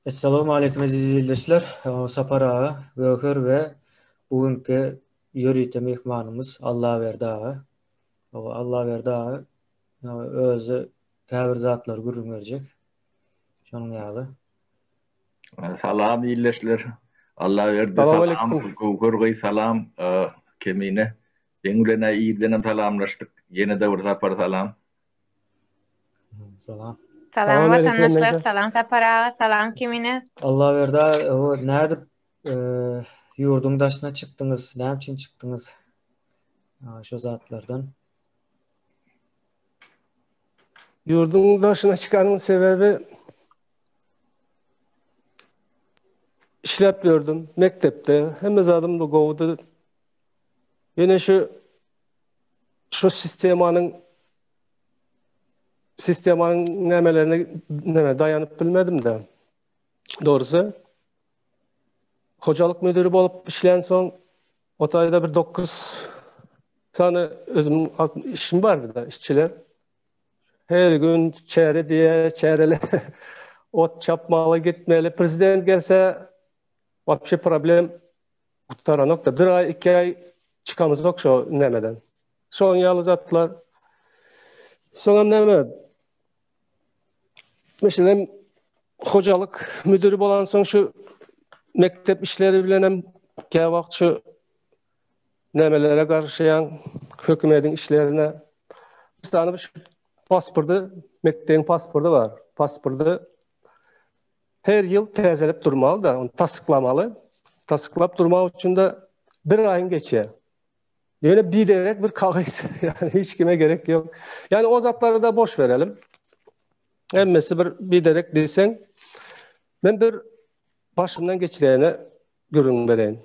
Essalamu aleýkum eziz ildeşler. Sapar aga, Göwher we bu günki ýörite myhmanymyz Allaberdi aga. Allaberdi aga özi käbir zatlary gürrüň berjek. Şonuň ýaly. Salam ildeşler. Allaberdi salam. Salam aleýkum. Göwher gyz salam. Kemine. Seň bilen-ä irdenem salamlaşdyk. Ýene-de bir sapar salam. Salam. Salam watandaşlar, salam Sapar aga, salam kimine? Allah berda, o nädip e, ýurduň daşyna çykdyňyz? Näme üçin çykdyňyz? Şu zatlardan. Ýurduň daşyna çykanyň sebebi işläp ýördüm mekdepde. Hemme zadym da gowudy. Ýöne şu Şu sistemanyň sistemanyň nämelerine näme daýanyp bilmedim-de. Dogrusy, hojalyk müdiri bolup işlän soň, o taýda bir dokuz sany özümiň işim bardy-da, işçiler. Her gün çäre diýe, çärele ot çapmaly, gitmeli. Prezident gelse, wapşe problem Gutaranokda bir aý iki aý çykamyzok şo nämeden. Şoň ýaly zatlar. Soňam näme? Meselem hojalyk müdiri bolan soň şu mekdep işleri bilen hem käwagt wagt şu nämelere garşyýan hökümetiň işlerine. Misal şu pasporty, mekdebiň pasporty bar. Pasporty Her ýyl täzelip durmaly-da, ony tassyklamaly. Tassyklap durmak üçin-de bir aýyň geçýär. Ýöne biderek bir kagyz, ýagny hiç kime gerek ýok. Ýagny o zatlary-da boş berelim. Hemmesi bir biderek diýseň, men bir başymdan geçireni gürrüň bereýin.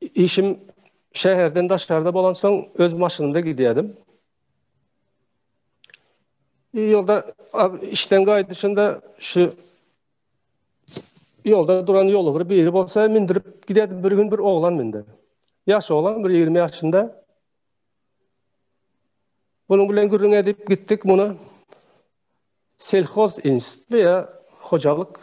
Işim şäherden daşarda bolansoň öz maşynymda gidýärdim. Ýolda işden gaýdyşynda şu ýolda duran ýoly bir biri bolsa mindirip gidedim bir gün bir oglan mindi. Ýaş oglan bir 20 ýaşynda. Bunun bilen gürrüň edip gitdik muny selhoz institutly ýa hojalyk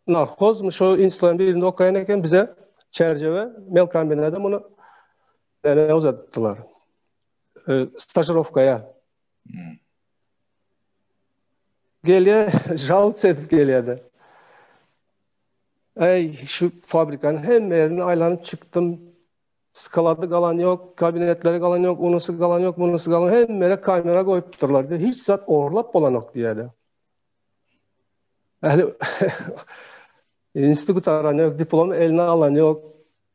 narhozmy şu institutlaryň birinde okaýan eken bize Çärjewe melkombinada muny Näme uzatdylar? Stažirowkaýa. Gelýä, žal sedip gelýärdi. Ey, şu fabrikan hem yerini aylanyp çıktım. Skaladı galan yok, kabinetleri galan yok, unusu galan yok, unusu galan yok. Hem yere kamera koyup durlar. De. Hiç zat orlap olan yok diye de. Yani, institut aran yok, diplom eline alan yok.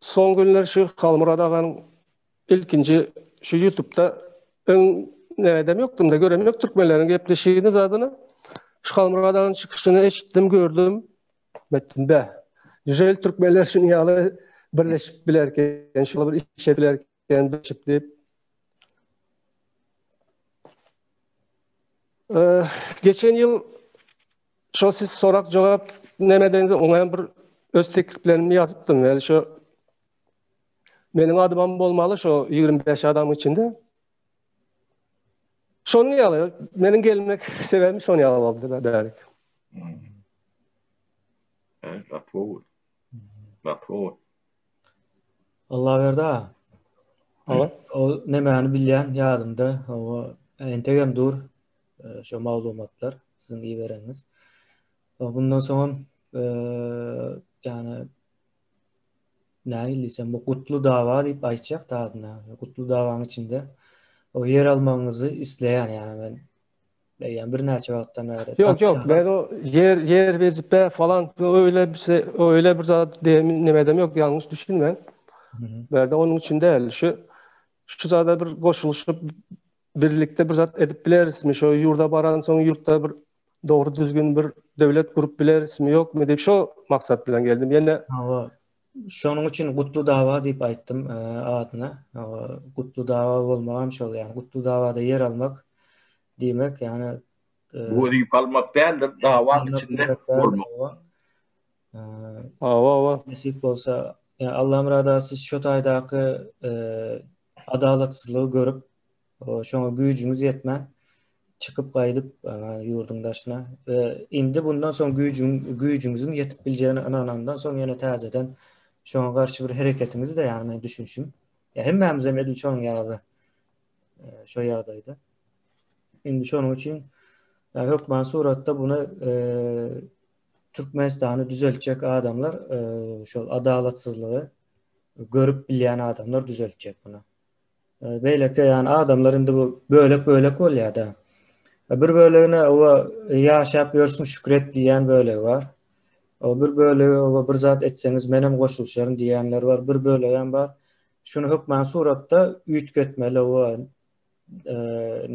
Soň günler şu Halmyrat aganyň ilkinji şu ýutupda öň nädem ýokdumda görem ýok türkmenleriň gepleşigini zadyny. Şu Halmyrat aganyň çykyşyny eşitdim gördüm. Etdim bäh. Nijel türkmenler şuny ýaly birleşip bilerken şular bir işe bilerken. Endi çip dip. Eee, geçen ýyl şo siz sorak jogap näme deňiz oňa bir öz tekliplerimi ýazypdym. Ýa şo meniň adymam bolmaly şo 25 adamyň içinde. Şonuň ýaly, meniň gelmek sebäbim şonuň ýaly boldy da bärik. Eee, apo. Apo. Allaberdi aga. Hawa. O nemäni bilýän ýadymda, hawa, entegem dur e, şu maglumatlar siziň ibereňiz. Bundan soň hem e, ýani näme diýsem, bu gutly dawa diýip aýtjak da adyna. Gutly dawaň içinde o ýer almagyňyzy isleýän ýani men Yani bir näçe wagtdan bäri. Yok yok ben o yer yer vezipe falan öyle bir şey öyle bir zat ne edem yok yanlış düşünme. Berde onun için değil şu şu zada bir koşuluşup birlikte bir zat edip bileriz mi? Şu yurda baran son yurtta bir doğru düzgün bir devlet kurup bileriz mi yok mu diye şu maksat bilen geldim. Yine Şonuň üçin Gutlu dawa diýip aýtdym adyna. Gutlu dawa bolmagam şol, ýagny Gutlu dawada ýer almak diýmek, ýagny wezipe almak däldir, dawa içinde bolmak. Hawa, nesip bolsa, Allamyrat aga siz şu taýdaky adalatsyzlygy görüp, Şoňa güýjüňiz ýetmän, çykyp gaýdyp ýurduň daşyna we indi bundan soň güýjüň güýjüňiziň ýetip biljegine ynanandan soň ýene täzeden şoňa garşy bir hereketiňiz-de ýagny meniň düşünişim. Ýa hemmämizem edil şonuň ýaly şo ýagdaýda. Indi şonuň üçin hökman suratda bunu Türkmenistany düzeltjek adamlar şol adalatsyzlygy görüp bilýän adamlar düzeltjek bunu. Beýleki ýany adamlar indi bu bölek-bölek bolýar-da. Bir bölegine owa ýaşap ýörsün şükür et diýýän bölegi bar. O bir bölegi owa bir zat etseňiz menem goşulşaryn diýýänler bar. Bir bölegem bar. Şuny hökman suratda üýtgetmeli owa.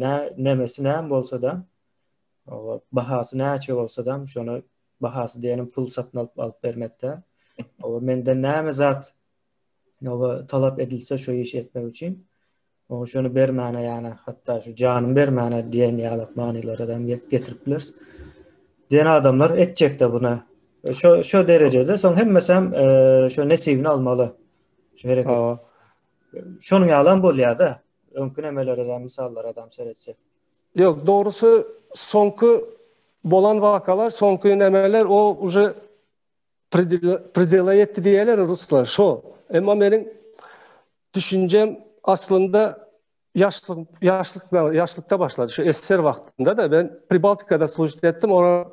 Nä nemesi näme bolsa-da owa bahasy näçe bolsa-da şony bahasy diýenim pul satyn alyp bermek däl. Owa menden näme zat Ýa-da talap edilse şu işi etmek üçin, oňa şuny bermäne ýa-da hatda şu janymy bermäne diýen ýaly manylara hem getirip bileris. Diýen adamlar etjek-de buna. Şu şu derejede soň hemmesi hem e, şu nesibini almaly. Şu hereket. Şonuň ýaly hem bolýar-da. Öňki nemelere hem mysallara hem seretsek. Ýok, dogrusy soňky bolan wakalar, soňky nemeler o uje Predela etdi diýerler ruslar, şo. Emma meniň düşünjem aslynda ýaşlyk ýaşlykda ýaşlykda başlady. Şu SSR wagtynda da men Pribaltikada služit etdim. Ora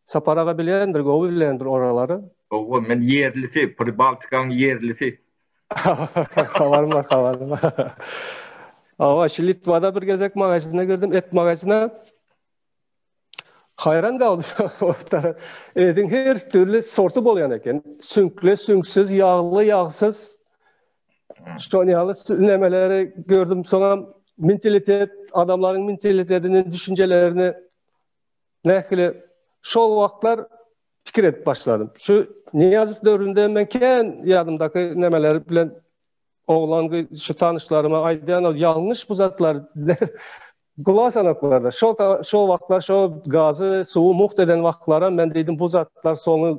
Sapar aga bilendir, gowy bilendir oralary. Gowy, men ýerlisi, Pribaltikaň ýerlisi. Habarym bar, habarym bar. Awa, şu Litwada bir gezek magazyna girdim, et magazyna. Haýran galdy otara. Ediň her türli sorty bolýan eken. Süňkli, süňksiz, ýagly, ýagsyz. Şol ýaly nemeleri gördüm. Soňam mentalitet, adamlaryň mentalitetini, düşünjelerini nähili şol wagtlar pikir edip başladym. Şu Niýazow döwründe men kän ýadymdaky nemeler bilen Oglan gyz şu tanyşlaryma aýdýan ol ýalňyş bu zatlar. Gulaş anaklarda. Şo şo wagtlar şo gazy, suwy mugt eden wagtlaram men diýdim bu zatlar soňy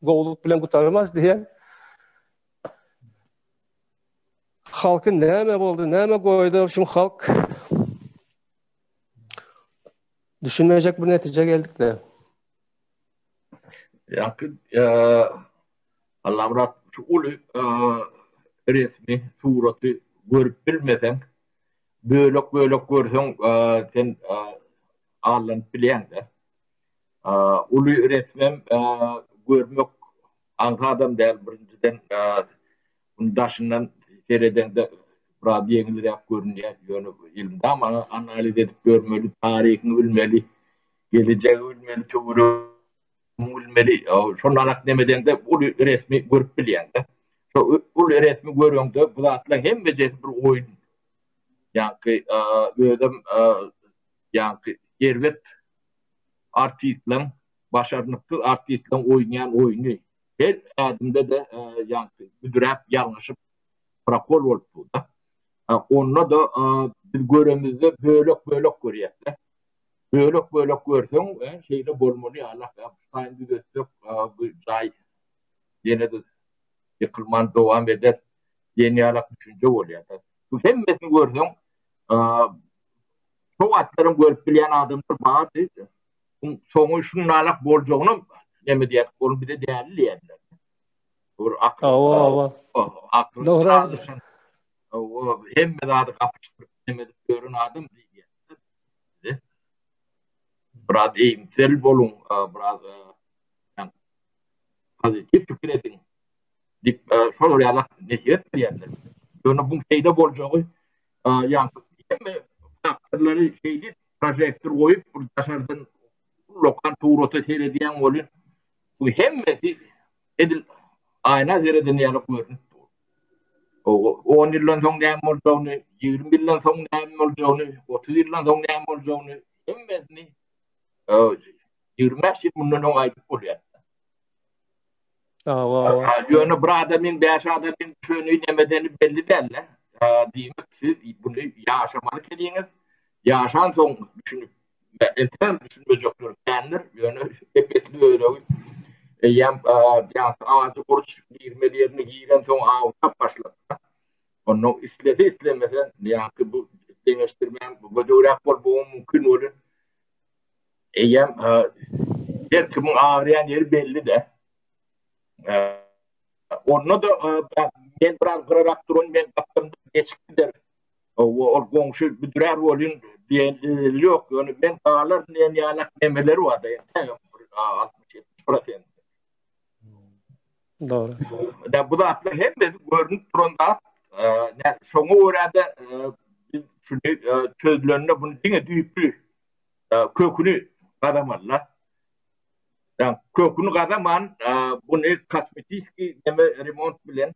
gowulyk bilen gutarmaz diýen. Halky näme boldy, näme goýdy şu halk? Düşünmejek bir netije geldik de. Ýa, Allamyrat şu uly resmi suraty görüp bilmeseň bölek bölek görseň sen allanyp bilýäňdä. Uly resmem görmek aňsadam däl birinjiden muny daşyndan seredeňde biraz ýeňilräk görünýär ýöne elmydama analiz edip görmeli taryhyňy bilmeli gelejegi bilmeli töweregi Muň bilmeli şondanat neme deňde uly resmi görüp bilýäňdä. Şo uly resmi göreňde bu zatlaň hemmejesi bir oýun. Ýaňky özem ýaňky erbet artistlaň başarnyksyz artistlaň oýnaýan oýny. Her ädimde-de ýaňky büdräp ýalňyşyp prokol bolup durda. Onda-da biz göremizde bölek bölek görýäsdä. Bölek bölek görseň şeýle bolmaly ýaly taýyn düzetsek bu jaý ýenede ýykylman dowam eder diýen ýaly düşünje bolýar. Bu hemmesini görseň şo wagtlaram görüp bilýän adamlar bardy. Soňy şundanam boljagynam neme diýer ol bize däli diýerler. Ol akyl dogry hemme zady gapyşdyryp neme edip ýören adam diýýär. size. Biraz eýimsel boluň, biraz pozitiw pikir ediň diýip, şolar ýaly nesiýet berýärler. Ýöne bu şeýle boljagy, ýagny hemme faktorlary şeýdip, prožektor goýup, bir daşardan ullakan surata seredýäň welin, bu hemmesi edil aýna seredeni ýaly görnüp dur. On ýyldan soň näme boljagyny, ýigrimi ýyldan soň näme boljagyny, otuz ýyldan soň näme boljagyny, hemmesini ýigrimi bäş ýyl mundan öň aýdyp bolýar. Ýöne bir adamyň bäş adamyň düşeni, nemedeni belli däl-le. Diýmek, siz muny ýaşamaly ekeniňiz. Ýaşansoň düşünip Entägem düşünmejekler kändir, ýöne ep-esli öregi eýýäm ýaňky ajy burç girmeli ýerine girensoň awlap başlapdyr. Onda islese-islemese ýaňky bu deňeşdirmäň gödegräk bolmagam mümkin welin, eýýäm her kimiň agyrýan ýeri belli-de. Onda-da men biraz gyrarak durun, men gapdalymda geçip giderin. Hawa, ol goňşy büdrär welin, belli ýok, ýöne men galaryn diýen ýalak nemeleri bar-da, entägem bir altmyş-ýetmiş prosent. Dogry. Bu zatlar hemmesi görnüp duran zat. Nä, şoňa görä-de, biz şuny çözülende buny diňe düýpli, köküni gazamaly-la. Köküni gazaman, buny kosmetiski neme, remont bilen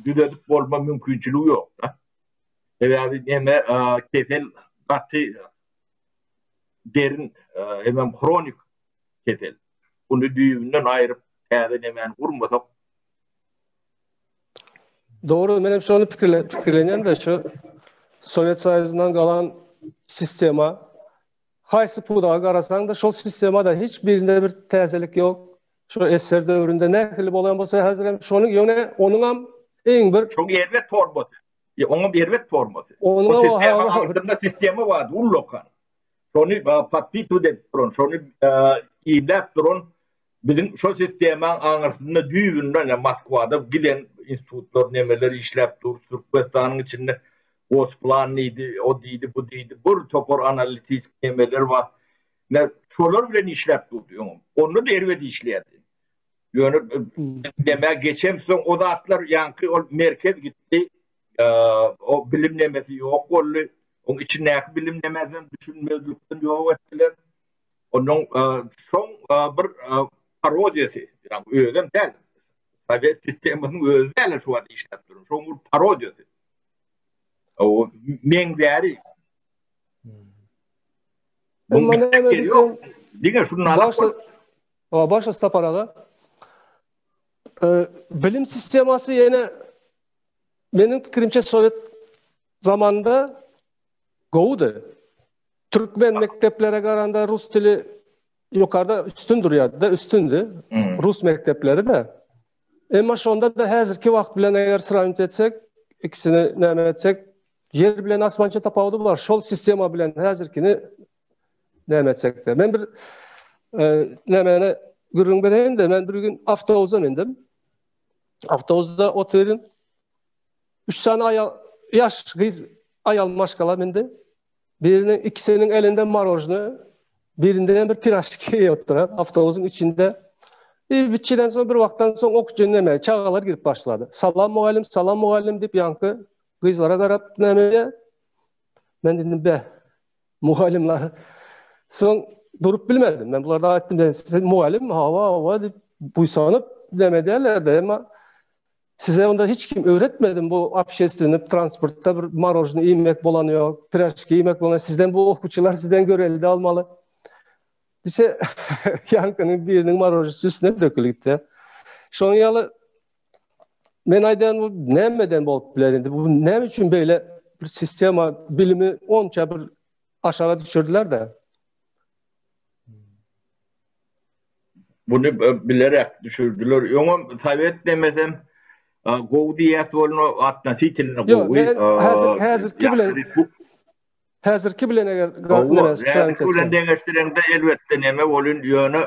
düzedip bolma mümkinçiligi ýok-da. Sebäbi neme kesel gaty derin hemem hronik kesel. Ony düýbünden aýryp täze nemäni gurmasak. Dogry, men hem şony pikirlenýän-de şu Sowet Soýuzyndan galan sistema. Haýsy pudaga garasaň-da şol sistemada hiç birinde bir täzelik ýok. Şu esser döwründe nähili bolan bolsa häzir hem şonuň ýöne onuň hem iň bir Şoň erbet formasy. Ýa oňam erbet formasy. Onuň o sistema sistema bar, ullokan. Şony patbit edip duran, şony iýläp duran biziň şo sistema aňyrsynda düýbünden ýa Moskwada giden institutlar nemeler işläp dur, Türkmenistanyň içinde Gosplan diýdi, o diýdi, bu diýdi, bir topar analitik nemeler bar. Men şolar bilen işläp durdy öňem. Onda da erbet işleýärdi. Ýöne demä geçen soň o zatlar ýaňky ol merkez gitdi. O bilim nemesi ýok boldy. Oň içindäki bilim nemesem düşünmezlikden ýok etdiler. Onuň soň bir parodiýasy, ýagny özem däl. Sowet sistemasynyň özi däl şu wagt işläp duran. Şoň bir parodiýasy. O meňzäri. Emma näme diýsem, diňe şunda başga O başga sapar aga. Bilim sistemasy ýene meniň pikirimçe sowet zamanynda gowudy. Türkmen mekdeplere garanda rus dili ýokarda üstün durýardy, üstündi. Rus mekdepleri de. Emma şonda-da häzirki wagt bilen eger srawniwt etsek, ikisini näme etsek, ýer bilen asmança tapawudy bar. Şol sistema bilen häzirkini näme etsek-de. Men bir nämeni gürrüň bereýin-de, men bir gün awtobusa mendim. Awtobusda otyryn. Üç sany aýal, ýaş gyz aýal maşgala mindi. Biriniň ikisiniň elinde marojne, birinde bir piraşki ýotdur. Awtobusyň içinde bir biçiden soň bir wagtdan soň ok jünleme çagalar girip başlady. Salam mugallym, salam mugallym diýip ýaňky gyzlara garap näme Men dedim be mugallymlar. Soň durup bilmedim. Men bularda aýtdym, siz mugallym, hawa, hawa diýip buýsanyp näme derler de, emma Size onda hiç kim öwretmedimi bu obşestweniý transportda bir marožni iýmek bolany ýok, piražki iýmek bolany, sizden bu okuwçylar sizden görelde almaly. Diýse, ýaňkynyň biriniň marožisi üstüne dökülipdi. Şonuň ýaly men aýdan bu nämeden bolup biler indi? Bu näme üçin beýle bir sistema bilimi onça bir aşaga düşürdiler-de? Buny bilerek düşürdiler. Öňem sowet demesem gowy diýäs bolna atnositilno gowy. Häzir häzirki bilen häzirki bilen eger garaşsaňyz. Häzirki bilen deňeşdireňde elbetde neme bolun ýöne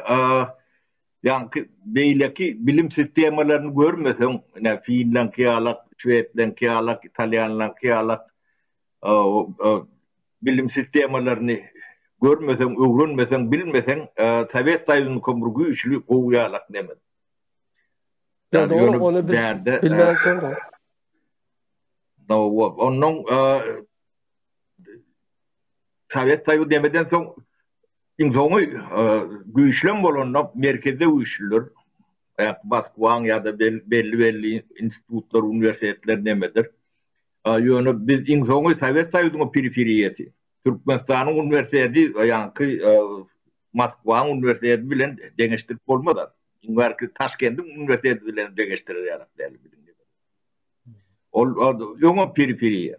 ýaňky beýleki bilim sistemalaryny görmeseň, ine finlanky ýalak, şwedlenki ýalak, italýanlaňky ýalak bilim sistemalaryny görmeseň, öwrenmeseň, bilmeseň, sowet soýuzynyňkam bir güýçli, gowy ýalak nemes. Onnoň sowet soýuzy nemeden soň iň soňy güýçlem bolanda merkezde güýçlüler, Moskwaň ýa-da belli-belli institutlar, uniwersitetler nemedir. Ýöne biz iň soňy Sowet Soýuzynyň periferiýasy, Türkmenistanyň uniwersiteti, ýaňky Moskwanyň uniwersiteti bilen deňeşdirip bolmaz. Iň bärki Taşkendiň uniwersiteti bilen deňeşdirer ýaly däl. Ol öňem periferiýa.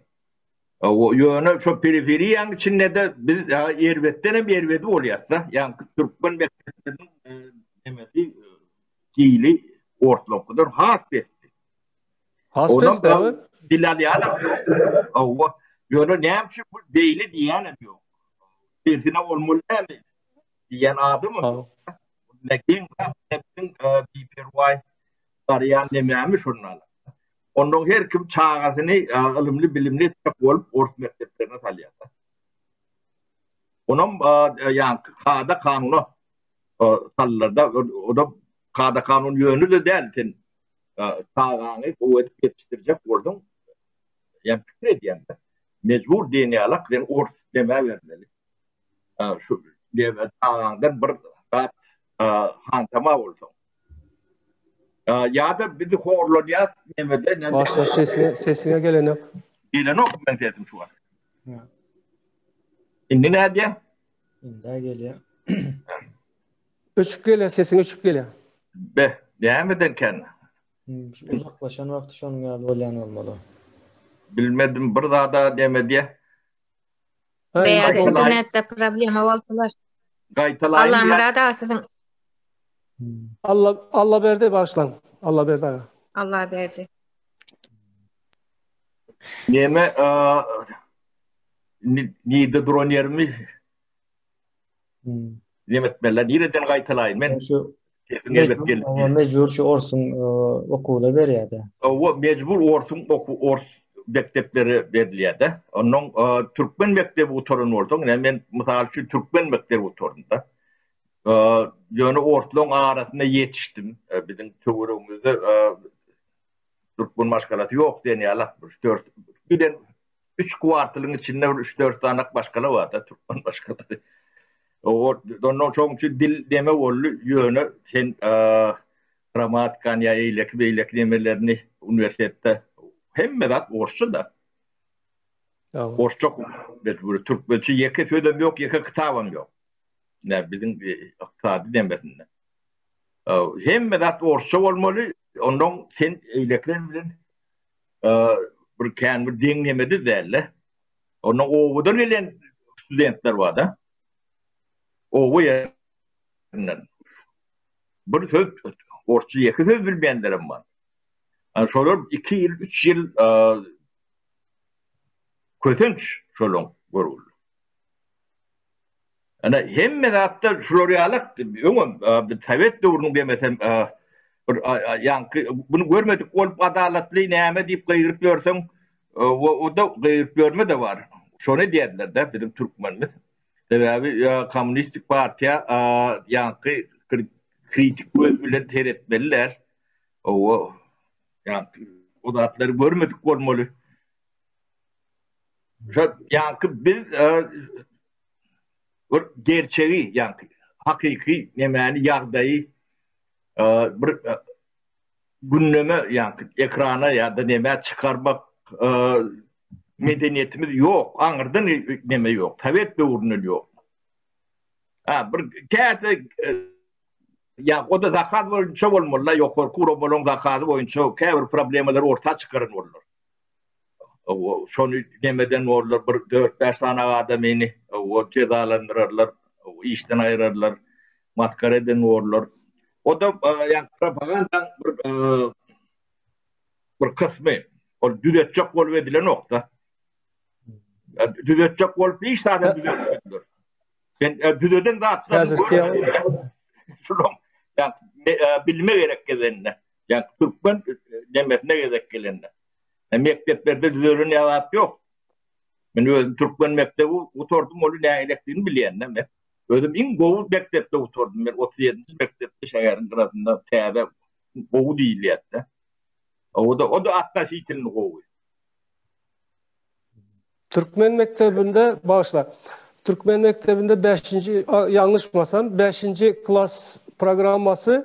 Ýöne şo periferiýanyň içinde-de biz erbetden hem erbedi bolýarys-da. Ýaňky türkmen mekdepleriniň hili ortalarynyňkydan has pesdi. Has pes däl. Dil alýarlar. Hawa. Ýöne näme üçin bu beýle diýýänem ýok. Tersine bolmaly näme? Diýýän adam ýok. Näkin näkin biperwaý barýan nämämi şondan. Ondan her kim çagasyny ylymly bilimli etmek bolup ors mekdeplerine salýar. Onam ýa kada kanuna sallarda o da kada kanun ýönü de däl sen çagaňy gowy edip ýetişdirjek bolsaň, ýa pikir edýäňdä, mejbur diýen ýaly-a sen ors demä bermeli. Şu diýme çagaňdan bir zat hantama bolsaň. Ýa-da biz horlanýas nämede näme. Başga sesiňe sesiňe gelenok. Gelenok men sesim şu wagt. Indi nädýä? Indi-ä gelýär. Öçüp gelýär sesiň öçüp gelýär. Be, nämeden kän? Uzaklaşan wagty şonuň ýaly bolýan bolmaly. Bilmedim bir zada dem edýä. Beýle internetde problema bolsalar. Gaýtalaýyn. Allamyrat aga siziň Alla Allaberdi bagyşlaň. Allaberdi aga. Allaberdi. Neme, nirde duran ýerimi Neme etmeli? Nireden gaýtalaýyn? Men şu mecbur şu orsuň e, okuwyna berýärdi. O mecbur orsuň oku ors mekdepleri berilýärdi. Onuň e, türkmen mekdebi gutaran bolsaň, yani men mysal üçin türkmen mekdebi gutardyda. E, Ýöne orslaryň arasynda ýetişdim. Biziň töweregimizde türkmen maşgalasy ýok diýen ýaly. Şu dört giden Üç kwartalyň içinde bir üç-dört sanak başgala bar-da, türkmen başgalary. Ondan şoň üçin dil neme boldy, ýöne sen grammatikany ýa eýleki beýleki nemelerini uniwersitetde hemme zat orsça-da. Orsça okuw, türkmençe ýeke sözem ýok, ýeke kitabam ýok. Näme biziň ykdysady nemesinde. Hemme zat orsça bolmaly, ondan sen eýlekiler bilen bir kän bir deňlemede däl-de. Onda owadan gelen studentler bar-da. Owa ýerinden. Bir söz, orçy ýeke söz bilmeýänlerim bar. Yani şolar 2 ýyl, 3 ýyl kösenç şolaň görgüli. Ine, hemme zatda şular ýaly, öňem biz sowet döwrüniň demesem bir ýaňky muny görmedik bolup adalatly näme diýip gygyryp ýörseň, o-da gygyryp ýörme-de bar. Şony edýärler-de biziň türkmenimiz. Sebäbi kommunistik partiýa ýaňky kritik göz bilen seretmeli däl. Hawa, ýaňky o zatlary görmedik bolmaly. Şo ýaňky biz bir gerçegi ýagny hakyky nemäni ýagdaýy bir gündeme ýagny ekrana ýa-da nämä çykarmak medeniýetimiz ýok, aňyrdan neme ýok, sowet döwründen ýok. Ha bir käte ýa o-da zakaz boýunça bolmaly-la ýokarky guramalaryň zakazy boýunça käbir problemalar orta çykaran bollar. şony nemeden bollar bir dört bäş sanaga adamyny o jezalandyrarlar işden aýyrarlar masgara eden bollar o da ýa propaganda bir bir kysmy ol düzetjek bolup edilenokda düzetjek bolup hiç zada düzetmediler sen düzeden zatlar şu bilme gerek gezende Ýa türkmen nemesine gezek gelende. Ä mekdeplerde düzelen ýa zat ýok. Men özüm türkmen mekdebi gutardym, ony nälelikdigini bilýän-dä men. Özüm iň gowy mekdepde gutardym. Men otuz ýedinji mekdepde şäheriň gyrasynda täze gowy diýilýärdi-dä. O-da, o-da atnositilno gowy. Türkmen mekdebinde, bagyşla, türkmen mekdebinde bäşinji, ýalňyşmasam, bäşinji klas programmasy,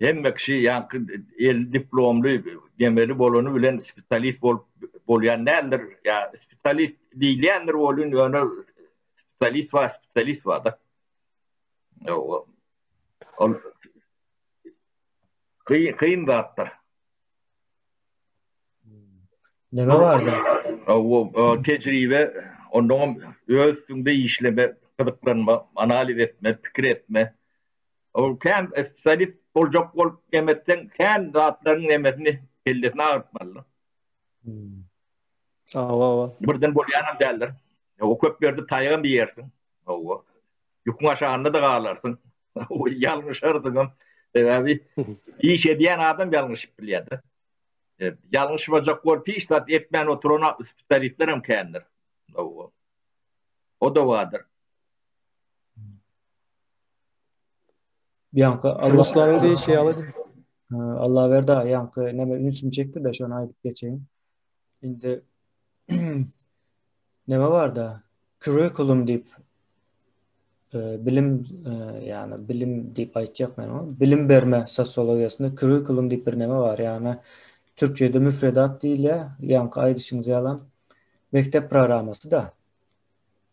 Hemme kişi ýaňky elli diplomly demeli bolany bilen spesialist bolup bolýan däldir. Ýa spesialist diýilýändir welin ýöne spesialist bar, spesialist bar-da. Ýa ol kyn kyn zatdyr. Neme bardy? Ol tejribe, ondan öz üstünde işleme, gyzyklanma, analiz etme, pikir etme. Ol kän spesialist boljak bolup nemetseň kän zatlaryň nemesini kellesini agyrtmalydyr. Hawa hawa. Birden bolýanam däldir. Hawa köp ýerde taýagam iýersiň. Hawa. Ýükiň aşagynda-da galarsyň. Ýalňyşarsyňam. Sebäbi iş edýän adam ýalňyşyp bilýär-de. Ýalňyşmajak bolup hiç zat etmän oturan spesialistlerem kändir. Hawa. O-da bardyr. Ýaňky Allah Ruslaryň diýşi ýaly. Allah berdi ýaňky näme ünsüm çekdi-de şony aýdyp geçeýin. Indi näme barda curriculum diýip e, bilim e, ýani bilim diýip aýtjak men ony. Bilim berme sosiologiýasynda curriculum diýip bir näme bar. Ýani türkçede müfredat diýilýär. Ýaňky aýdyşyňyz ýalam mekdep programmasy da.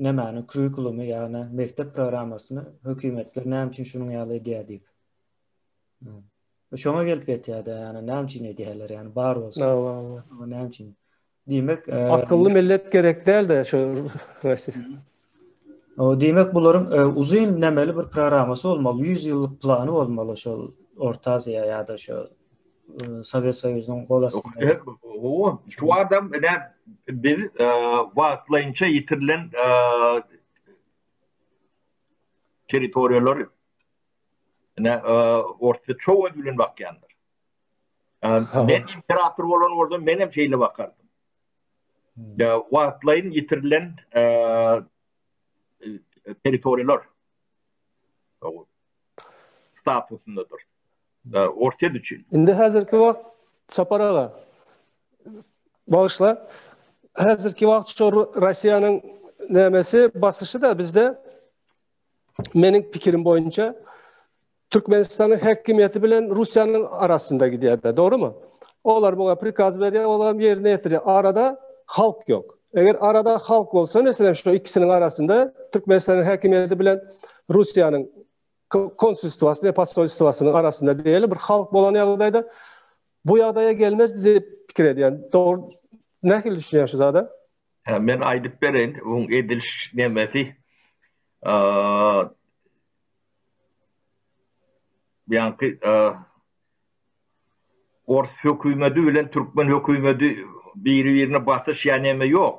Nämäni, kurikulumy ýa-da mekdep programmasyny hökümetler näme üçin şunuň ýaly edýär diýip. Şoňa gelip ýetýär-de, ýagny näme üçin edýärler, ýagny bar bolsa, bu näme üçin? Diýmek, akylly millet gerek däl-de şu Russiýa. Diýmek, bularyň uzyn nämeli bir programmasy bolmaly, ýüz ýyllyk plany bolmaly şol Orta Aziýa ýa-da şu Sowet Soýuzynyň gol astynda. Şu adam eden biz wagtlaýynça ýitirilen territoriýalary ene orta çow göz bilen bakýandyr. Men imperator bolan bolsam men hem şeýle bakardym. Ya wagtlaýyn ýitirilen territoriýalar statusyndadyr. e, Orsýet üçin. Indi häzirki wagt Sapar aga bagyşla. Häzirki wagt şu Russiýanyň nämesi basyşy da bizde meniň pikirim boýunça Türkmenistanyň häkimiýeti bilen Russiýanyň arasynda gidýär de, dogrymy? Olar muňa prikaz berýär, olar ýerine ýetirýär. Arada halk ýok. Eger arada halk bolsa, meselem şu ikisiniň arasynda Türkmenistanyň häkimiýeti bilen Russiýanyň konsulstwasy we posolstwasynyň arasynda belli bir halk bolan ýagdaýda bu ýagdaýa gelmezdi diýip pikir edýän. Dogry, nähili düşünýän şu zada? Hä, men aýdyp bereýin, bu ediliş nemesi. Ýaňky ors hökümeti bilen türkmen hökümeti biri-birine basyş ýa neme ýok.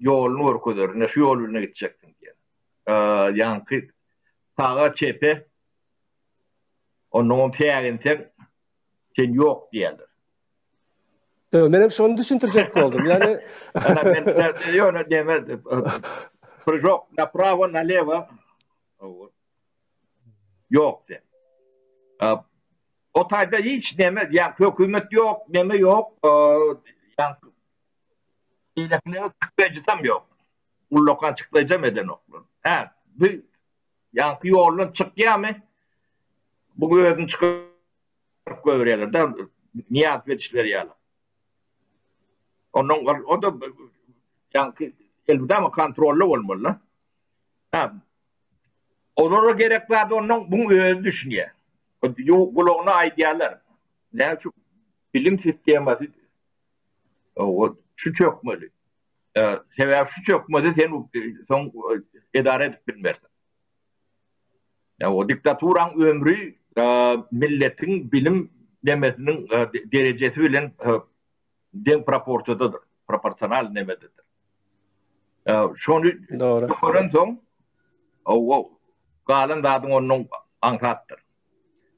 Ýoluny görkezer, ine şu ýol bilen gitjekdiň diýen. Ýaňky saga çepe onnoň täginseň sen ýok diýerler. Öö, menem şony düşündirjek boldum. Ýani Ana men ýöne deme. Prýok, na prawo, na lewo. Ýok sen. O taýda hiç näme, ýa hökümet ýok, näme ýok. Ýa Beýlekileriň çykdaýjysam ýok. Ullakan çykdaýjam edenoklar. Hä, bu ýaňky ýoldan çykýamy? Bu özüni çykaryp goýberýärler-de, Nyýaz bedişler ýaly. Ondan ol, o-da ýaňky elmydama kontrolda bolmaly-da. Hä, olara gerek zady ondan bu özi düşünýär. Gulagyna aýdýarlar, näme üçin bilim sistemasy Owal, şu çökmeli. Sebäbi şu çökmese sen soň edara edip bilmersiň. Ýa o diktaturaň ömri milletiň bilim nemesiniň derejesi bilen deň proporsiýadadyr, proporsional nemededir. Şony görensoň, owal, galan zadyň ondan aňsatdyr.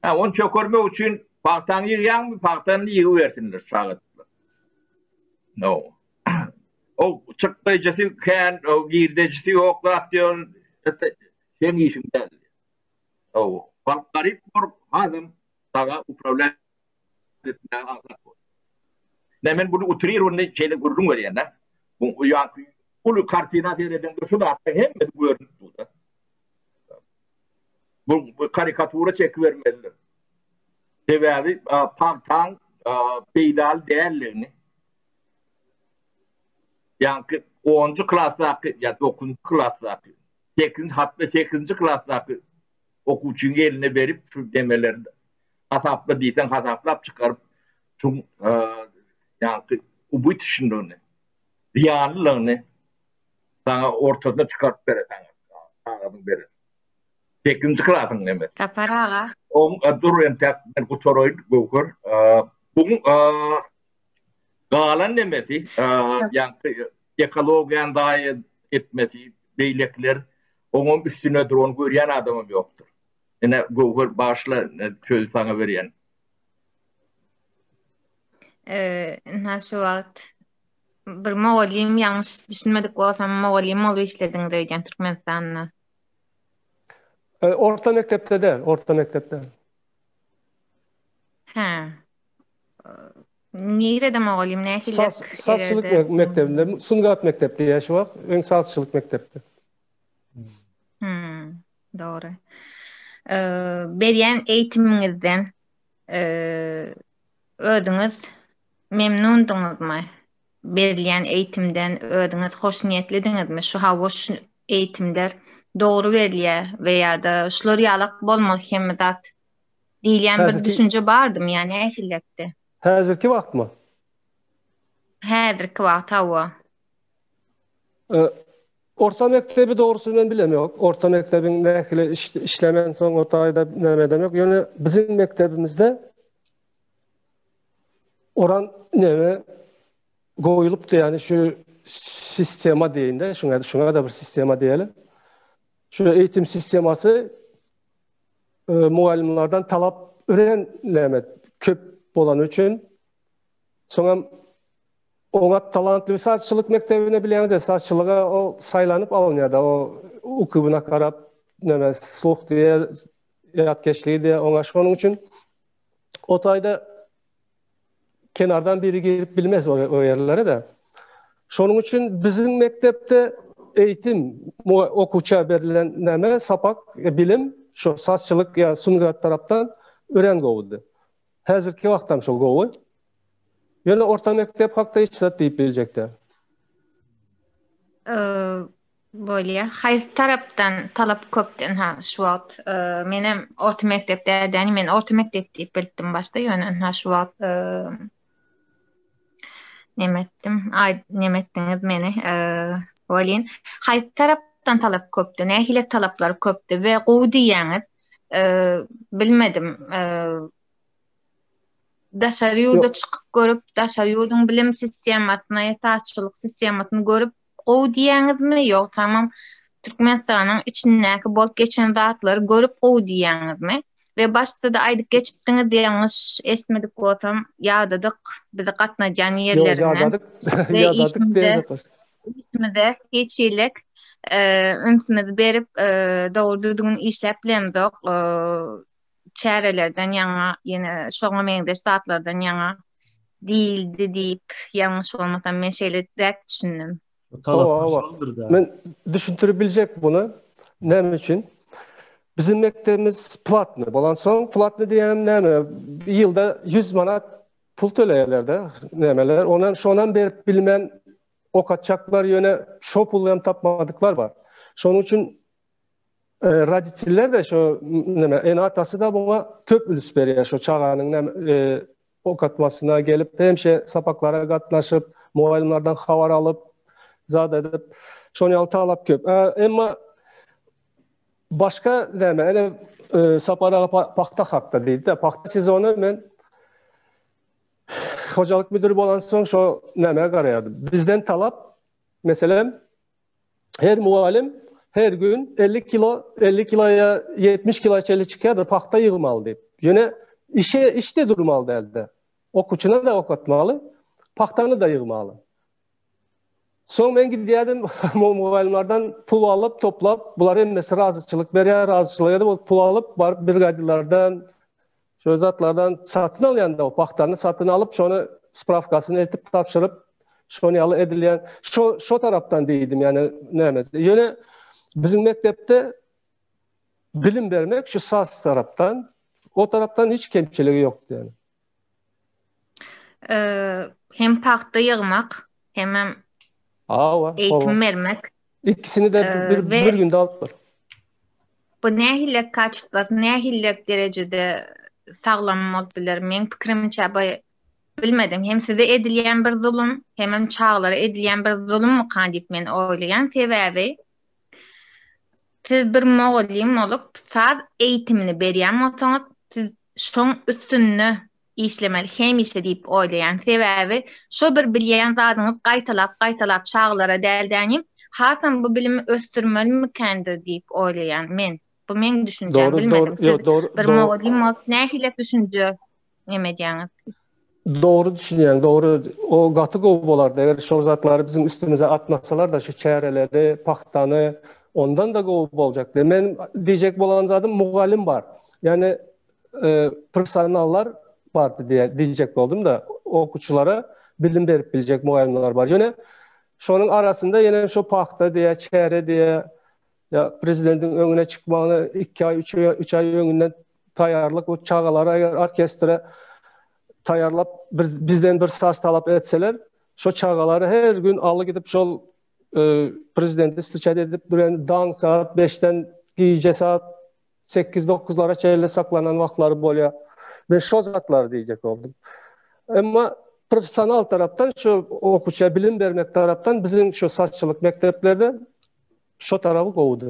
Hä, ony çökermek üçin pagtaňy ýygýaňmy, pagtany ýygybersinler çagajyklar. No. O çykdaýjysy kän, o girdejisi ýok zat diýen, ete, seň işiň däl. O, garyp bor, adam, daga upravlýaýan. Düýpmäge aňsat bol. Ine, men buny utrirowanyny şeýle gürrüň berýän-dä. Bu ýaňky uly kartina seredende şu zatlaryň hemmesi görnüp dur-da. Bu karikatura çekibermelidir. Sebäbi pagtaň peýdaly däldigini ýaňky onunjy klasdaky ýa dokuzynjy klasdaky, sekizinji, hatda sekizinji klasdaky okuwçynyň eline berip, şu demeleri Hasapla diýseň hasaplap çykaryp şu ýaňky ubytşinligini, zyýanlylygyny saňa ortasyna çykaryp beresäň kagazyň berer. Sekizinji klasyň neme? Sapar aga. Oň dur entäk men gutaraýyn Göwher. Buň galan nemesi ýaňky ekologiýany zaýa etmesi beýlekiler oňam üstüne dur ony görýän adamam ýokdur. Ine, Göwher, bagyşla, sözi saňa berýän. Ynha, şu wagt bir mugallym, ýalňyş düşünmedik bolsam, mugallym bolup işlediňiz öýdýän Türkmenistanda. Orta mekdepde däl, orta mekdepde. Hä. Nirede mugallym, nähili ýerde? Sazçylyk mekdebinde, sungat mekdepdi ýa şu wagt, öň sazçylyk mekdepdi. Dogry. Berýän eýtimiňizden özüňiz memnundyňyzmy? Berilýän eýtimden özüňiz hoşniýetlidiňizmi? Şu hawa şu eýtimler dogry berilýär we ýa-da şular ýalak bolmaz hemme zat diýilýän bir düşünje bardymy? Ýani ähilletde. Häzirki wagtmy? Häzirki wagt hawa. Orta mekdebi dogrusyny men bilem ýok. Orta mekdebiň nähili işlemen soň o taýda näme edem ýok. Ýöne biziň mekdebimizde oran näme goýlupdy ýani şu sistema diýinde, şuňa şuňa da bir sistema diýeli. Şu eýitim sistemasy e, mugallymlardan talap ören näme köp bolany üçin soňam Oňat talantly sazçylyk mekdebine bilýäňiz de sazçylyga o saýlanyp alynýada o ukybyna garap näme sluh diýe ýatkeşligi diýe oňa şonuň üçin o taýda kenardan biri girip bilmez o ýerlere de şonuň üçin biziň mekdepde eýitim okuwça berlen näme sapak bilim şo sazçylyk ýa sungat tarapdan örän gowudy Häzirki wagtam şol gowy. Ýöne orta mekdep hakda hiç zat diýip biljek däl. Bolýa. Haýsy tarapdan talap köpden ha şu wagt menem orta mekdep dädäni men orta mekdep diýip bildim başda ýöne ha şu wagt nemetdim aý nemetdiňiz meni welin haýsy tarapdan talap köpdi nähili talaplar köpdi we gowy diýýäňiz bilmedim daşary ýurda çykyp görüp daşary ýurduň bilim sistemasyna ýatakçylyk sistemasyny görüp gowy diýýäňizmi ýok tamam Türkmenistanyň içindäki bolup geçen zatlary görüp gowy diýýäňizmi we başda da aýdyp geçipdiňiz ýalňyş esmedik bolsam ýadadyk bizi gatnadýan ýerlerinden ýadadyk ýadadyk Işimize hiç hilik ünsümizi berip, dogry düzgün işläp bilemzok. Çärelerden ýaňa, ýene şoňa meňzeş zatlardan ýaňa diýildi diýip, ýalňyş bolmasam men şeýle däp düşündim. Men düşündirip biljek muny. Näme üçin? Biziň mekdebimiz platny bolansoň, platny diýýänem näme? Ýylda 100 manat Pul töleýärlerde nämeler onam şonam berip bilmän okatjaklar ýöne şo puly hem tapmadyklar bar. Şonuň üçin roditiller de şo näme ene atasy da buňa köp üns berýär şo çaganyň näme okatmasyna gelip hemşe sapaklara gatnaşyp mugallymlardan habar alyp zat edip şoň ýaly talap köp. Emma Başga näme? Ene Sapar aga pagta hakda diýdi-de, pagta sezony men hojalyk müdiri bolansoň şo näme garaýardym. Bizden talap, meselem, her mugallym her gün 50 kilo, 50 kilo ýa 70 kilo çenli çykýardy, pagta ýygmaly diýip. Ýöne işe işde durmaly däldi. Okuwçyny da okatmaly, pagtany da ýygmaly. Soň men gidýärdim, mug- mugallymlardan pul alyp, toplap, bular hemmesi razyçylyk berýär, razyçylyk edip, ol pul alyp, baryp brigadirlerden, şöyle zatlardan satyn alýan-da, o pagtany satyn alyp, şony sprawkasyny eltip, tabşyryp, şony ýaly edilýän, şo, şo tarapdan diýdim, ýagny näme, ýöne biziň mekdepde bilim bermek şu saz tarapdan, o tarapdan hiç kemçiligi ýokdy ýagny. Hem pagta ýygmak, hemem Hawa, eýitim bermek. Ikisini de bir günde alyp bol. Bu nähili kaçytda, nähili derejede saglam bolup biler? Meň pikirimçe, bu bilmedim. Hem size edilýän bir zulum, hemem çagalara edilýän bir zulummykan diýip men oýlaýan. Sebäbi siz bir mugallym bolup, saz eýitimini berýän bolsaňyz, siz şoň üstünde işlemeli hemişe diýip oýlaýan sebäbi şo bir bilýän zadyňyz gaýtalap gaýtalap çagalara däl dänim hasam bu bilimi ösdürmeli mikändr diýip oýlaýan men bu meň düşünjäm bilmedim siz bir mugallym bolup nähili düşünje neme edýäňiz. Dogry düşünýäň, dogry. O gaty gowy bolardy, eger şol zatlary biziň üstümize atmasalar-da, şu çäreleri, pagtany, ondan-da gowy boljakdy. Meniň diýjek bolan zadym, mugallym bar. Ýagny, professionallar bar diýýän, diýjek boldum-da. Okuwçylara bilim berip biljek mugallymlar bar. Ýöne şonuň arasynda ýene şo pagta diýe, çäre diýe, ýa prezidentiň öňüne çykmagyna iki aý, üç aý, üç aý öňünden taýýarlyk we çagalary eger orkestre taýýarlap bir bizden bir saz talap etseler, şo çagalary her gün aly gidip şol e, prezidenti stiçat edip duran daň saat 5-den gije saat 8-9-lara çeýle saklanan wagtlary bolýar. Men şo zatlary diýjek boldum. Emma professional tarapdan şu okuça bilim bermek tarapdan biziň şu saççylyk mekdeplerde Şo taraby gowudy.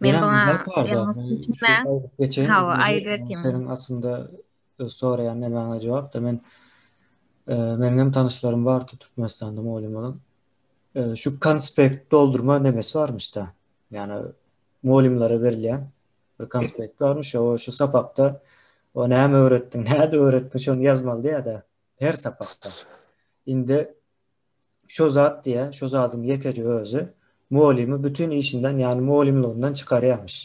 Men Menem buňa güzel karda. ýalňyş Men şu düşünmän, aýdyp geçeýin. Hawa, Özümi aýdyp geçeýin. Ýaňseriniň aslynda e, soraýan nämäňe jogap da men e, meniň hem tanyşlarym bardy Türkmenistanda mugallymlaryň. E, Şu konspekt doldurma nemesi barmyş-da. Ýani mugallymlara berilýän bir konspekt barmyş. O şu sapakda o näme öwretdiň, näde öwretdiň şony ýazmaly diýýär-de her sapakda. Indi Şo zat diýä, şo zadyň ýekeje özi mugallymy bütin işinden, ýagny mugallymlygyndan çykarýarmyş.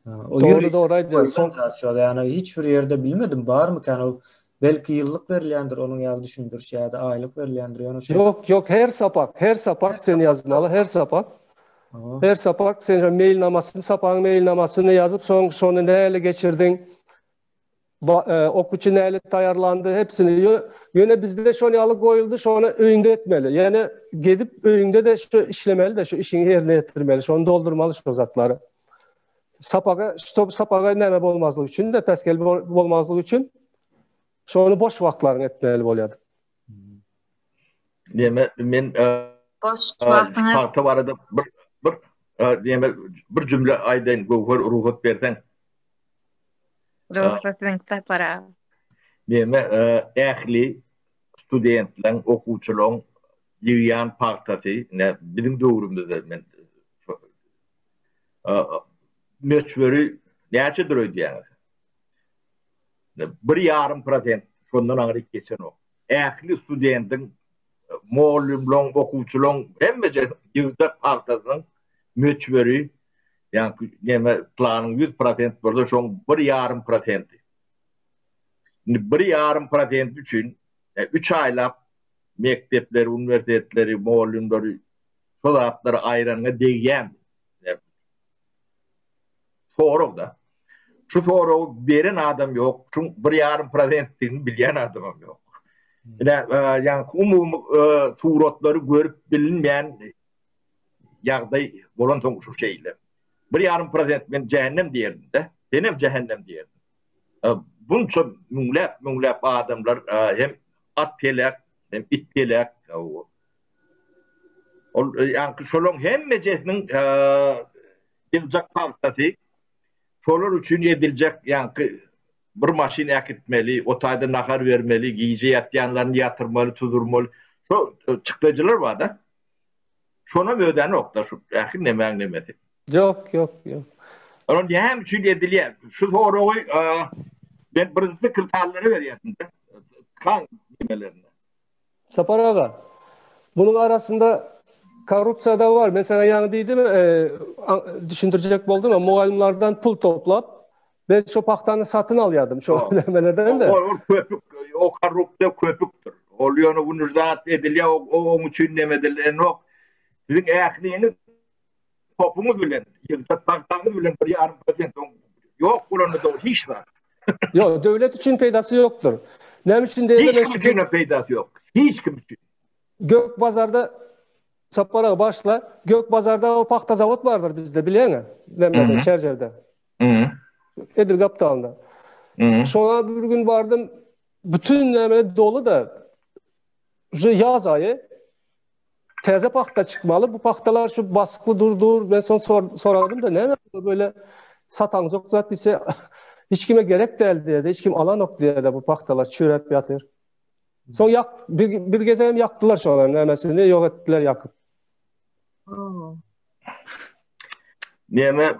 Dogry, dogry aýdýaňyz. Ýagny hiç bir ýerde bilmedim, barmykan ol? Belki ýyllyk berilýändir onuň ýaly düşündiriş ýa-da aýlyk berilýändir, ýöne şeý. Ýok, ýok, her sapak, her sapak sen ýazmaly, her sapak. Her sapak sen meýilnamasyny, sapagyň meýilnamasyny ýazyp, soň şony nähili geçirdiň? Oky üçin nälet taýýarlandy, hepsini ýöne bizde şol ýaly goýuldy, şony öýüňde etmeli. Ýöne gezip öýüňde-de şu işlemeli-de, şu işiňi ýerine ýetirmeli, şony doldurmaly şu zatlary. Sapaga, ştob sapaga näme bolmazlyk üçin-de, päsgel bolmazlyk üçin şony boş wagtlaryňy etmeli bolýardy. Deme men boş wagtyňyz tagta barada bir bir deme bir jümle aýdaýyn göwher ruhat berseň. Ruhat siziň kitaplara. Deme ähli studentleriň okuwçylaryň ýygýan pagtasy ne biziň döwrümizde men möçberi näçedir öýdýäňiz? Bir ýarym prosent şondan aňryk geçenok. Ähli studendiň, mugallymlaň, okuwçylaň hemmejek ýygjak pagtasynyň möçberi, ýagny neme planyň ýüz prosent bolsa şoň bir ýarym prosenti. Indi bir ýarym prosenti üçin üç aýlap mekdepleri, uniwersitetleri, mugallymlary şo zatlary aýranyňa degýämi? Sorag-da. Şu soragy beren adam ýok, şuň bir ýarym prozentdigini bilýän adamam ýok. Ine, ýa umumy suratlary görüp bilinmeýän ýagdaý bolansoň şu şeýle. Bir ýarym prozent men jähennem diýerdim-de, senem jähennem diýerdim. Bunça müňläp, müňläp adamlar hem at telek, hem it telek. Ol ýa-da şolaryň hemmejesiniň Gyzjak pagtasy şolar üçin ediljek ýaňky bir maşyn äkitmeli, o taýda nahar bermeli, gije ýatýanlaryny ýatyrmaly, tudurmaly. Şo çykdajylar bar-da. Şonam ödänokda şu ähli nemäň nemesi. Ýok, ýok, ýok. Olar näme üçin edilýär? Şu soragy men birinjisi kirtallara berýärdim-de, tkan nimelerine. Sapar aga, bunun arasynda korrupsiýa da bar. Men sana ýaňy diýdim, e, düşündirjek boldum, mugallymlardan pul toplap, ben şu pahtany satyn alýardym şu nämelerden de. O köpük, o korrupsiýa köpükdir. Ol ýöne günüzdat edilýär, o oň üçin näme edilýär, ýok. Siziň ähliňiz topuňyz bilen ýylda bagdaňyz bilen bir ýarym prosent oň ýok bolanda dogry hiç zat. Ýok, döwlet üçin peýdasy ýokdur. Näme üçin diýende hiç kim üçin peýdasy ýok. Hiç kim üçin. Gök bazarda Sapar aga başla, Gök bazarda o pagta zawod bardyr bizde, bilýäňä? Nämede, Çerjerde. Mhm. Edil gapdalynda. Mhm. Şoňa bir gün bardym, bütün nämede doly da. Şu ýaz aýy. Täze pagta çykmaly. Bu pagtalar şu basykly durdur. Men son soradym da näme böyle satan zok zat ise hiç kime gerek däl diýdi. Hiç kim alan ok diýdi bu pagtalar çüräp ýatyr. Son ýak bir, bir geze hem ýakdylar şolar nämesini ýok etdiler ýakyp. Näme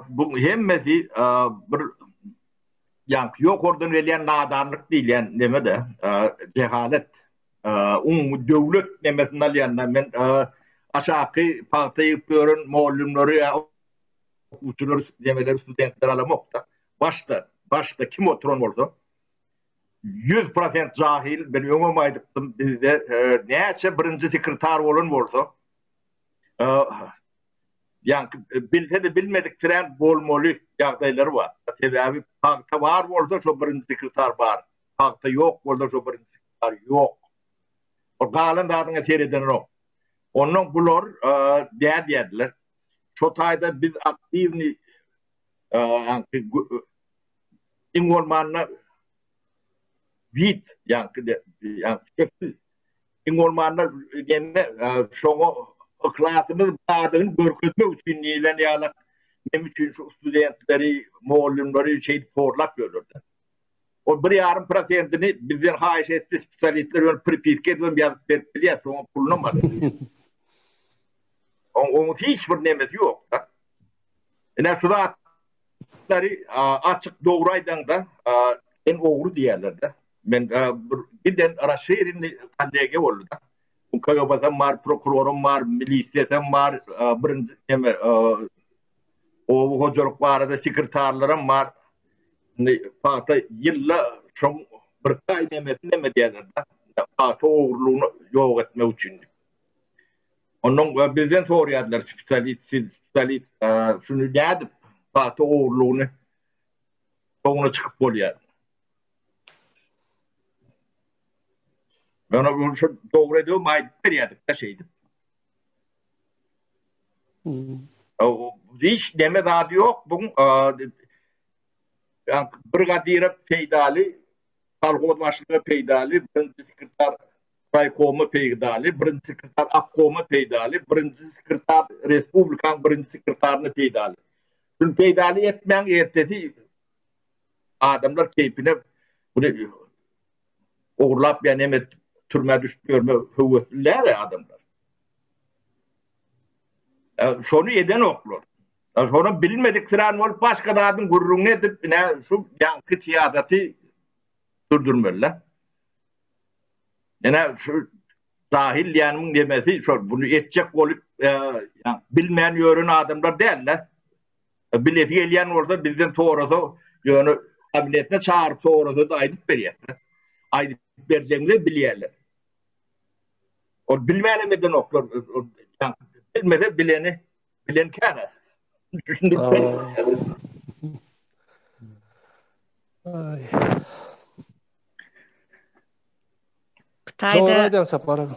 bu hemmesi bir ýa ýokardan gelýän nadanlyk diýilýän näme-de, jehalet. Umumy döwlet nemesini alýanda men aşaky pagta egip ýören mugallymlary ýa okuwçylary nemeleri studentleri alamok-da. Başda, başda kim oturan bolsa ýüz prosent jahil, men öňem aýdypdym, bizde näçe birinji sekretar bolan bolsa, ýaňky bilse-de bilmediksirän bolmaly ýagdaýlary bar. Sebäbi pagta bar bolsa, şo birinji sekretar bar. Pagta ýok bolsa şu birinji signal ýok. Ol galan zadyňa seredenok. Ondan bular dä diýerdiler. Şo taýda biz aktiwny iň bolmanda vid ýagny iň bolmanda gelme şoňa yhlasymyz bardygyny görkezmek üçin diýlen ýaly näme üçin şu studentleri mugallymlary şeýdip horlap ýörler. Ol bir ýarym prosentini bizden haýyş etdi, spesialistler ony pripiska edip hem ýazyp berip bilýär, soňam pulunam alýar. Oň oňat hiç bir nemesi ýok-da. Ine şu zatlary açyk dogry aýdaňda, sen ogry diýerler-de. Men bir giden raşirinli kollegiýa boldy-da. Bu KGB-dem bar, prokuroram bar, milisiýasam bar, birinji neme, Oba hojalyk barada sekretarlaram bar. Indi pagta ýylda şoň bir gaý nemesin neme diýerler-de, pagta ogurlygyny ýok etmek üçin. Onnoň bizden sorýardylar spesialis, siz spesialis, şuny nädip pagta ogurlygyny soňuna çykyp bolýar? Ýöne ol şo dogry edewm aýdyp berýärdik-de şeýdip. Hiç neme zady ýok, bu brigadire peýdaly, kolhoz başlyga peýdaly, birinji sekretar raýkoma peýdaly, birinji sekretar obkoma peýdaly, birinji sekretar respublikanyň birinji sekretaryna peýdaly. Şuny peýdaly etmäň, ertesi adamlar keýpine ogurlap ya neme türmä düşüp ýörme höwesli däle adamlar. Şonu eden oklar. Şonu bilmedik filan bolup başga zadyn gürrüňini edip ne şu ýaňky syýasaty durdurmeli. Ene şu dahil ýanyň demesi şol bunu etjek bolup bilmän ýören adamlar däl-de. Bilesi gelýän bolsa bizden sorasa ýöne kabinetine çagyryp sorasa-da aýdyp berýäs-de. Aýdyp berjegimizi bilýärler. Ol bilmänem edenoklar. Bilmese bileni bilen käne. Düşündip Ay. Kıtayda... Doğru aydan sapara.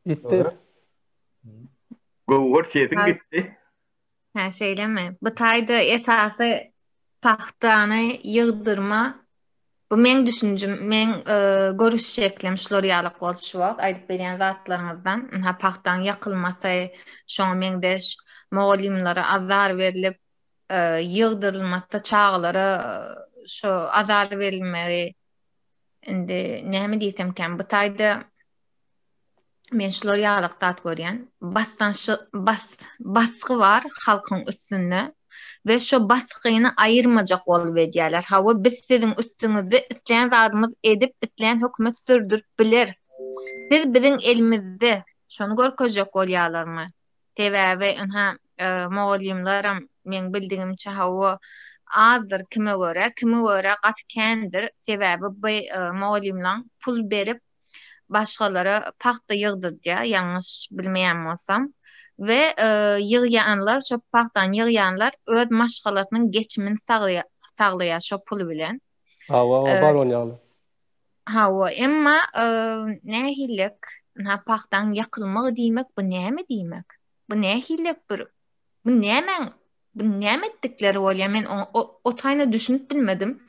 Gitti. Gowur sesiň gitdi. Hä, şeýlemi? Bu taýda esasy pagtany ýygdyrma. Bu meň düşünjem, meň e, görüş şeklim şular ýaly goşmak, aýdyp berýän zatlaryňyzdan. Ynha pagtaň ýakylmasy, şoňa meňzeş mugallymlara azar berlip, e, ýygdyrylmasy, çagalara e, şu azar berilmegi indi näme diýsemkäm, bu taýda men şular ýaly zat görýän. Basdanşy bas basgy bar halkyň üstünde we şu basgyny aýyrmajak bolup edýärler. Hawa, biz siziň üstüňizde isleýän zadymyz edip, isleýän hökümet sürdürip bileris. Siz biziň elimizde. Şony görkezjek bolýarlarmy? Sebäbi ynha mugallymlaram meň bildigimçe hawa azdyr kime görä, kime görä gaty kändir. Sebäbi bu mugallymlaň pul berip başgalara pagta ýygdydýar, ýalňyş bilmeýän bolsam, we ýygýanlar, şo pagtany ýygýanlar öz maşgalasynyň geçimini saglaýar şo pul bilen. Hawa, bar ol ýaly. Hawa, emma nähililik, ynha, pagtaň ýakylmagy diýmek, bu näme diýmek? Bu nähililik bir, bu nämäň, bu näme etdikleri bolýar? Men o taýyna düşünip bilmedim.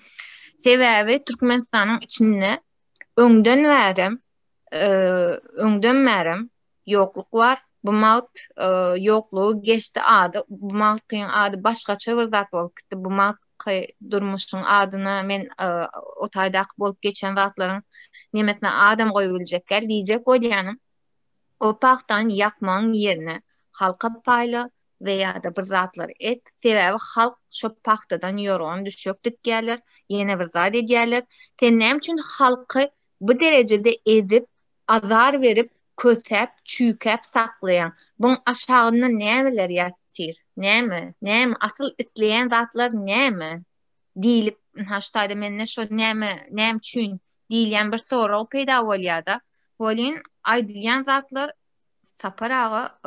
Sebäbi Türkmenistanyň içinde, Öňden bärem, öňden bärem ýokluk bar. Bu magt ýoklugy geçdi ady. Bu magtyň ady başgaça bir zat bolup gitdi. Bu magt durmuşyň adyna men o taýdaky bolup geçen zatlaryň nemesine adam goýup biljek däl. Diýjek bolýanym, o pagtany ýakmagyň ýerine halka paýla, we ýa-da bir zatlar et, sebäbi halk şo pagtadan ýorgan düşek dikýärler, ýene bir zat edýärler. Sen näme üçin halky bu derejede ezip, azar berip, kösäp, çüýkäp saklaýaň? Buň aşagynda nämeler ýatyr? Näme? Näme? Asyl isleýän zatlar näme? diýlip, haşda-da mende şo näme, näme üçin diýilýän bir sorag peýda bolýar-da. Welin, aýdylýan zatlar Sapar aga,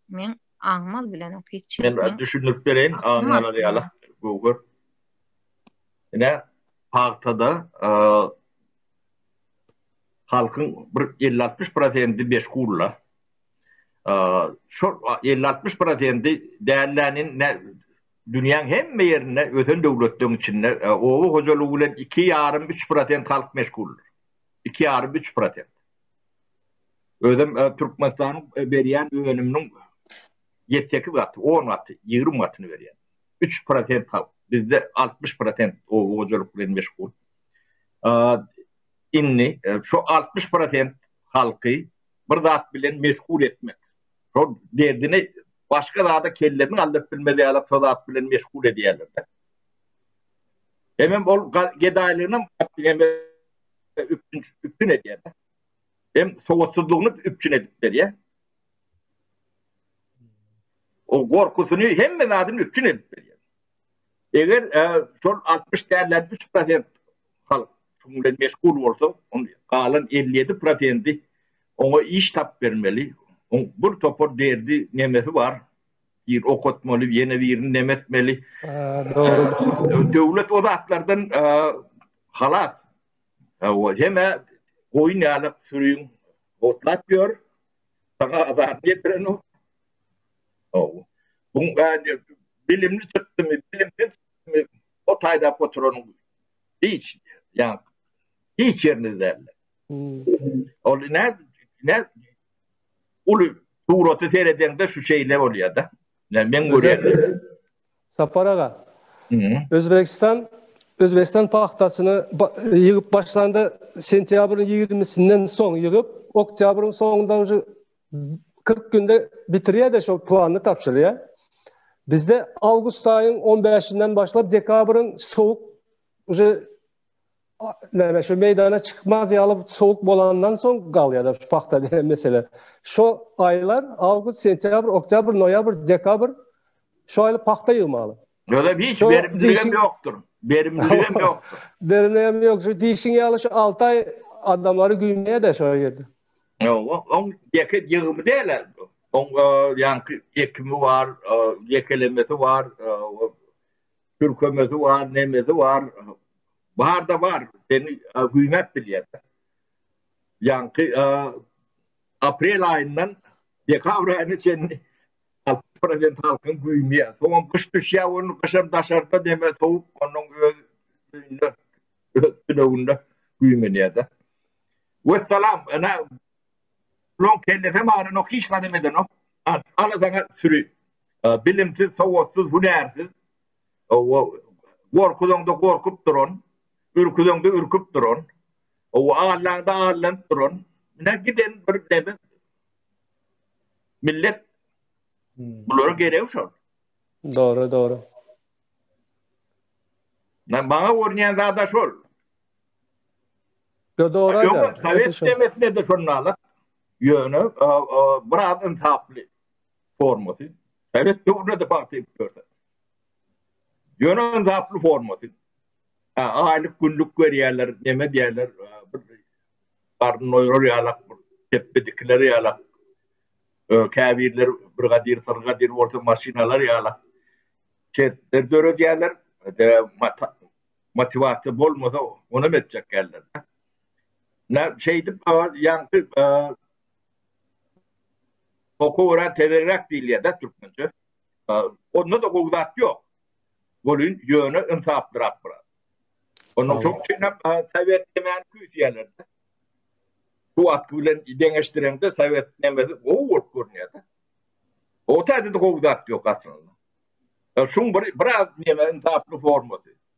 men aňmal bilen ok hiç. Men biraz düşündirip bereýin, aňmalar ýaly göwher. Ine, pagtada halkyň bir 50-60 prosendi meşgulla. Şu 50-60 prosendi dällänin ne dünýäň hemme ýerinde ösen döwletleriň içinde oba hojalygy bilen 2,5-3 prosent halk meşguldyr. 2,5-3 prosent. Özem Türkmenistanyň berýän önüminiň ýedi sekiz gaty, on gaty, ýigrimi gatyny berýär. Üç prosent halk. Bizde altmyş prosent oba hojalyk bilen meşgul. Indi şu altmyş prosent halky bir zat bilen meşgul etmek, şol derdini başga zada kellesini galdyryp bilmez ýaly şo zat bilen meşgul edýärler-de. Hemem ol gedaýlygyny hem üpjün edýär-de. hem sowatsyzlygyny üpjün edip berýär. O gorkusyny hemme zadyny üpjün edip berýär. Eger e, şol 60 dälden 3 prosent halk şuň bilen meşgul bolsa, on galan 57 prosenti oňa iş tap bermeli. On bir topar derdi nemesi bar. Bir okutmaly, ýene birini nemetmeli. Döwlet o zatlardan e, halas. Hawa, hemä goýun ýaly süriň otlap ýör. Saňa azar ýetirenok. Hawa. Buň bäri bilimli çykdymy, bilimsiz çykdymy, ot aýlap oturanyň hiç, ýa-ni hiç ýerini däldir. Ol nä, nä uly suraty seredeňde şu şeýle bolýar-da. Ýa men görýän. Sapar aga. Özbegistan Özbekistan pagtasyny ýygyp başlanda sentýabryň ýigrimisinden soň ýygyp, oktýabryň soňunda uje kyrk günde bitirýär-de şol plany tabşyrýar. Bizde awgust aýyň on bäşinden başlap dekabryň sowuk uje näme şu meýdana çykmaz ýaly sowuk bolandan soň galýar-da şu pagta diýen mesele. Şu aýlar awgust, sentýabr, oktýabr, noýabr, dekabr şu aýlar pagta ýygmaly. Ýöne hiç berimliligem ýokdur. Berimliligem ýokdur. Berimliligem ýok. Şu diýşiň ýaly şu alty aý adamlary güýmeýär-de şo ýerde. Ýok, oň ýeke ýygymy däl-ä. Oň ýaňky ekimi bar, ýekelemesi bar. Türkemezi bar, nemezi bar. Barda bar. Seni güýmäp bilýärler. Ýaňky aprel aýyndan dekabr aýyna çenli 60% halkyň güýmýä. Soňam gyş düşýä, ony gyşam daşarda deme sowup, onuň öz öýünde, öz tüneginde güýmenýä-de. Wessalam, ene, bularyň kellesem aranok, hiç zadam edenok. Al, ala saňa süri. bilimsiz, sowatsyz, hünärsiz, gorkuzaňda gorkup duran, ürküzeňde ürküp duran, allaňda allanyp duran, munä giden bir deme millet bulara gerek şol. Dogry, dogry. Men bana görünýän zada şol. Yo dogry. Ýöne Sowet demesine de şondalar. Ýöne biraz insaply. formasy sowet döwründe-de pagta ekip ýörler. Ýöne gaply formasy. Ha, aýlyk günlük berýärler, neme diýerler, bir garyn oýrar ýalak, tepbe dikiler ýalak. Käbirler bir gadyr, bir gadyr bolsa maşynalar ýalak. Şertler döredýärler, motiwasiýa bolmasa, onam etjek geldi. Nä şeýdip, ýaňky Oku biraz tevelräk diýilýär-dä türkmençe. Onda-da gowy zat ýok. Welin ýöne ynsaplyrak biraz. Onuň şoň üçin hem sowet nemäni küýseýärler-dä. Şu wagtky bilen deňeşdireňde sowet nemesi gowy bolup görünýär-dä. O täze-de gowy zat ýok aslynda. Şuň bir biraz neme ynsaply formasy.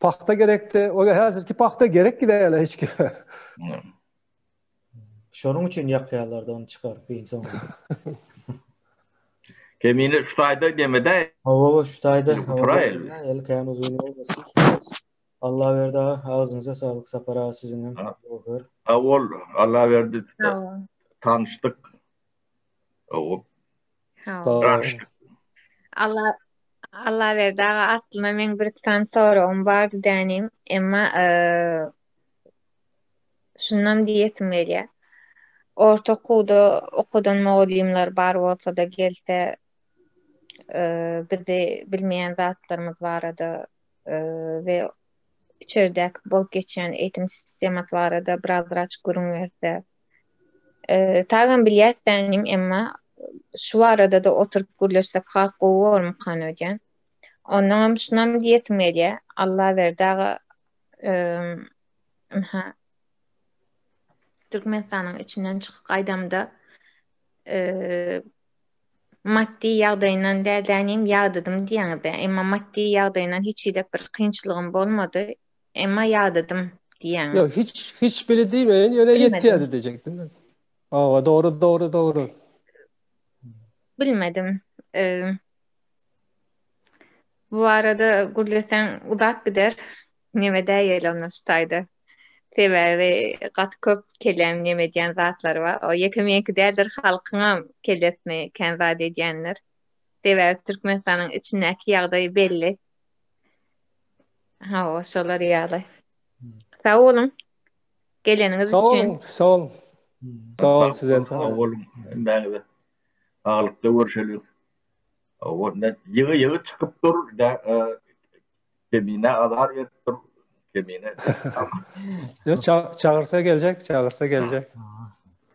Pagta gerekdi. Ola häzirki pagta gerek gidäýeli hiç kime. Şonuň üçin ýakýarlar-da ony çykaryp giň soňra. Kemine şu taýda demede. Hawa, şu taýda. Eli kän uzyn bolmasyn. Allaberdi aga, agzyňyza saglyk Sapar aga siziň hem. Sag bol, Allaberdi. Tanyşdyk. Ogup. Hawa. Allah Allah berdi aga aslynda men bir san soragym bardy dänim. Emma şundan diýesim gelýär. Orta okuwda okadan mugallymlar bar bolsa-da gelse bizi bilmeýän zatlarymyz barada we içerdäki bolup geçýän eýitim sistemasy barada biraz-biraz gürrüň berse. Eee, tagam bilýäs bänim, emma şu barada-da oturyp gürleşsek has gowy bolmykan öýdýän. Ondanam şunam diýesim gelýär, Allaberdi aga, eee, ynha, Türkmenistanyň içinden çykyp gaýdamda, eee, maddy ýagdaýyndan däl-de, ýagdydym diýýäňiz-dä, emma maddy ýagdaýyndan hiç hili bir kynçylygym bolmady, Emma ýadadym diýýäňiz. Ýok, hiç hiç biri diýmeýin, ýöne Bilmedim. ýetýärdi diýjekdim men. Hawa, dogry, dogry, dogry. Bilmedim. Eee, Bu barada gürleseň uzap gider. Neme däýeli onda şu taýda. Sebäbi gaty köp kellämi neme edýän zatlary bar. O ýeke meňki däldir, halkyňam kellesine kän zat edýändir. Sebäbi Türkmenistanyň içindäki ýagdaý belli. Hawa, şolar ýaly. Sag boluň. Geleniňiz üçin. Sag boluň, sag boluň. Sag boluň sizem. Sag boluň. Hemmäňize. Saglykda görşeliň. Onda ýygy ýygy çykyp dur, Kemine azar berip dur, Kemine. Ýok, çagyrsa geljek, çagyrsa geljek.